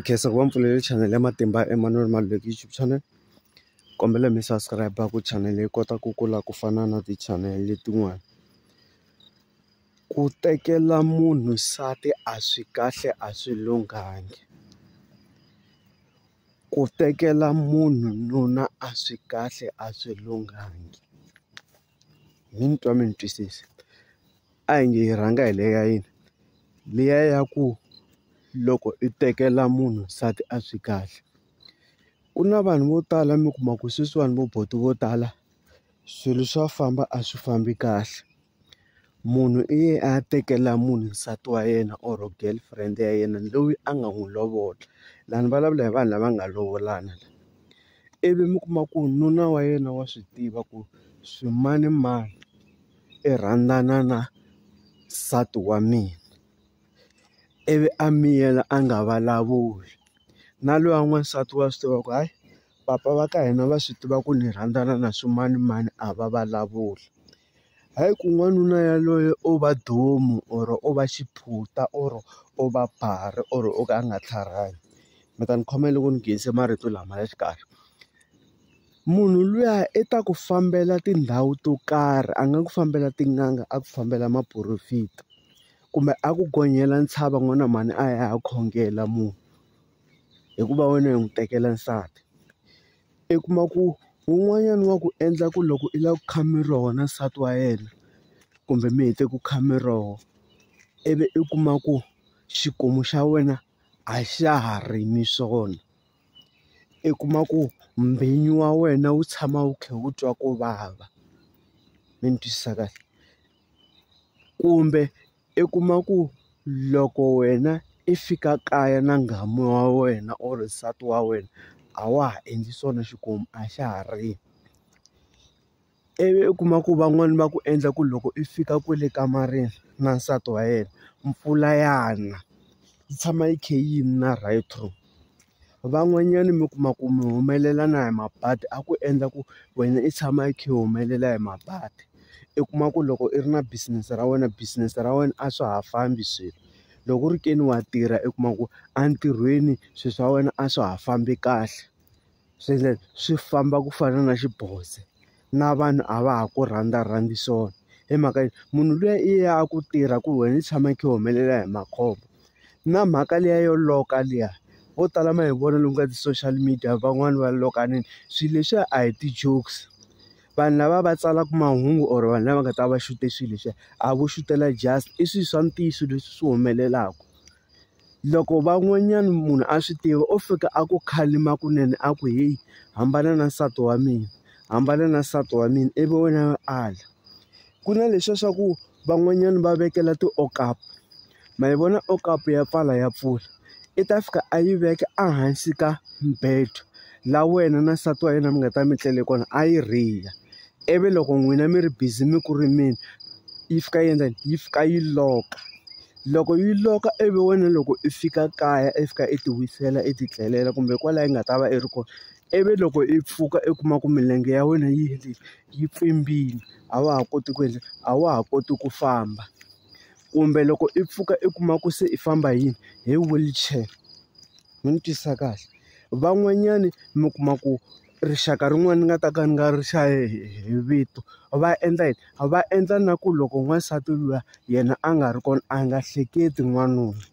khensa ku va mi pfulele chanele ya matimba Emmanuel Maluleke YouTube channel kombela mi subscribe ku chanele yi kota ku kula ku fana na ti-channel letin'wani ku tekela munhu nsati a swi kahle a swi lunghangi ku tekela munhu nuna a swi kahle a swi lunghangi. mi ni twa mi ni twisisa a hi nge hi rhanga hi le ya yini liya ya ku loko i tekela munhu nsati a swi kahle ku na vanhu vo tala mi kuma ku sweswiwani vo buti vo tala swilo swa famba a swi fambi kahle munhu i ye a ya tekela munhu nsati wa yena or girlfriend ya yena loyi a nga n'wi lovola lani vulavula hi vanhu lava nga lovolana. ivi mi kuma ku nuna wa yena wa swi tiva ku swimanimani i rhandzana na nsati wa mina ivi a miyela a nga vulavuli na luya n'wansati wa swi tiva ku hayi papa va ka hina va swi tiva ku ni rhandzana na swimanimani a va vulavuli. Hayi ku n'wanuna yaloye o va domu or o va xiphunta or o va barha or o ka a nga tlharihayi mi ta ni khoma loko ni nghenise marito lama ya xikari munhu luya i ta ku fambela tindhawu to karhi a nga ku fambela tin'anga a ku fambela maporofita kumbe a ku gonyela ntshava n'wana mhani a ya khongela munhu hikuva wena u n'wi tekela nsati. I kuma ku wun'wanyana wa ku endla ku loko i lava ku kha mi roho na nsati wa yena kumbe mi hete ku kha mi roho ivi i kuma ku xikomu xa wena a xa ha rimi swona i kuma ku mbhinyo wa wena wu tshama wu kha wu twa ku vava mi ni twisisa kahle kumbe I kuma ku loko wena i fika kaya na nghamu wa wena or nsati wa wena a wa ha endli swona xikomu a xa ha ri ivi u kuma ku van'wani va ku endla ku loko i fika kwale kamareni na nsati wa yena mpfula ya na yi tshama yi khe yi na right through. Van'wanyani mi kuma ku mi humelela na hi mabadi a ku endla ku wena i tshama i kha i humelela hi mabadi i kuma ku loko i ri na business ra wena business ra wena a swa ha fambi swilo loko ku ri ke ni wa tirha i kuma ku entirhweni swilo swa wena a swa ha fambi kahle swi swi famba ku fana na xiboze. na vanhu a va ha ku rhandzarhandzi swona hi mhaka yo munhu luya i ya ku tirha ku wena i tshama i kha i humelela hi makhombo na mhaka liya yo loka liya vo tala ma hi vona lomu ka ti-social media van'wani va lokanile swilo leswiya a hi ti-jokes vanhu lava va tsalaka mahungu or vanhu lava nga ta va va xute swilo leswiya a vo xutela just i swilo swa ntiyiso leswi swi humelelaka. loko van'wanyana munhu a swi tiva o fika a ku khalima kunene a ku heyi hambana na nsati wa mina hambana na nsati wa mina ivi wena ala ku na leswiya swa ku van'wanyana va vekela ti-okapu ma yi vona okapu ya pfala ya pfula i ta fika a yi veka ehansi ka mbedo la wena na nsati wa yena mi nga ta mi tlele kona a yi rila ivi loko n'wina mi ri busy mi ku rimeni yi fika yi endla yini yi fika yi lock-a. Loko yi lock-a ivi wena loko i fika kaya i fika i ti wisela i ti tlelela kumbe kwalaya i nga ta va i ri kona ivi loko i pfuka i kuma ku milenge ya wena yi yi pfimbile a wa ha koti ku endla a wa ha koti ku famba kumbe loko i pfuka i kuma ku se i famba hi yini hi wheelchair mi ni twisisa kahle van'wanyani mi kuma ku. rixaka rin'wana ni nga ta ka ni nga ri hlaya hi hi vito va endla yini va endla na ku loko n'wansati luya yena a nga ri kona a nga hleketi n'wanuna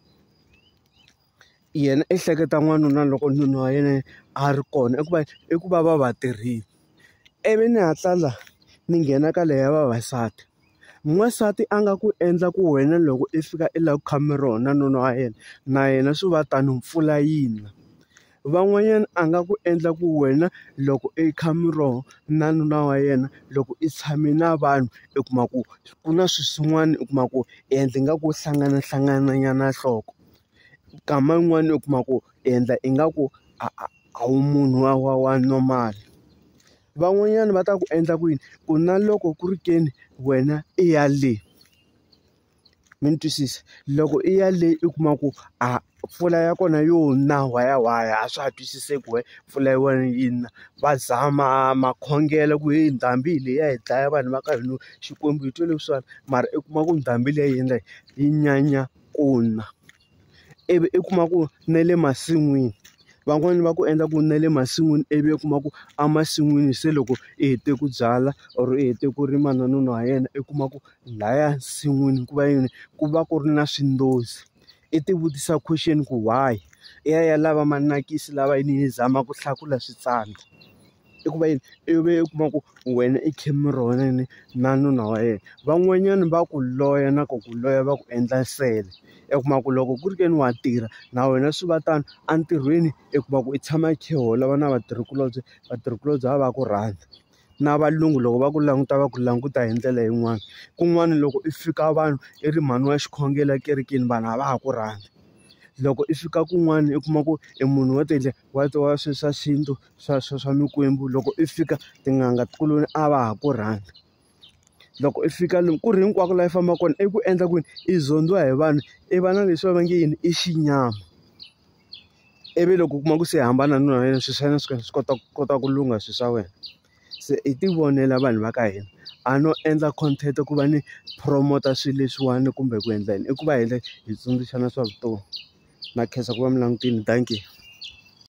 yena i hleketa n'wanuna loko nuna wa yena a ri kona i ku va i ku va va va tirhile ivi ni hatla la ni nghena ka leyi ya vavasati n'wansati a nga ku endla ku wena loko i fika i lava ku khoma ro na nuna wa yena na yena swi va tano mpfula yi na. Van'wanyana a nga ku endla ku wena loko i kha miroho na nuna wa yena loko i tshame na vanhu i kuma ku ku na swilo swin'wana u kuma ku i endla ingaku wo hlanganahlangana nyana nhloko nkama yin'wani u kuma ku i endla ingaku a a a wu munhu wa wa wa normal van'wanyana va ta ku endla ku yini ku na loko ku ri ke ni wena i ya le. mi ni twisisa loko i ya le i kuma ku a mpfula ya kona yo na wayawaya a swa ha twisiseki why mpfula ya wena yi na va zama makhongelo ku heyi ndhambi hi leyi ya hi dlaya vanhu va ka hina Xikwembu hi twe leswiwani mara i kuma ku ndhambi leyi ya hina yi nyanya ku na. ivi i kuma ku na le masin'wini van'wani va ku endla ku na le masin'wini ivi u kuma ku emasin'wini se loko i hete ku byala or i hete ku rima na nuna wa yena i kuma ku lahaya nsin'wini ku va yini ku va ku ri na swindozi i ti vutisa question ku why i ya ya lava manakisi lava yini yi zama ku hlakula switsandza. i ku va yini i vi u kuma ku wena i Cameron na nuna wa yena van'wanyana va ku loya na ku ku loya va ku endla nsele i kuma ku loko ku ri ke ni wa tirha na wena swi va tano entirhweni i kuma ku i tshama i kha i holova na vatirhikulobye vatirhikulobye va va ku rhandza na valungu loko va ku languta va ku languta hi ndlela yin'wani kun'wana loko i fika vanhu i ri mhani wa xikhongelo ekerekeni vanhu a va ha ku rhandzi loko i fika kun'wana i kuma ku i munhu wo tiendlela. wa ti wa swi swa xintu swa swa swa mikwembu loko i fika tin'anga ti ku ni a va ha ku rhandza loko i fika lomu ku ri hinkwako laha i fambaka kona i ku endla ku yini i zondhiwa hi vanhu i va na leswi va va nge yini i xinyama ivi loko u kuma ku se hambana na yena swilo swa yena swi swi kota ku kota ku lungha swilo swa wena. Se hi ti vonela vanhu va ka hina a no endla content ku va ni promote-a swilo leswiwani kumbe ku endla yini i ku va hi hi tsundzuxana swa vutomi na khensa ku va mi langutile dankie.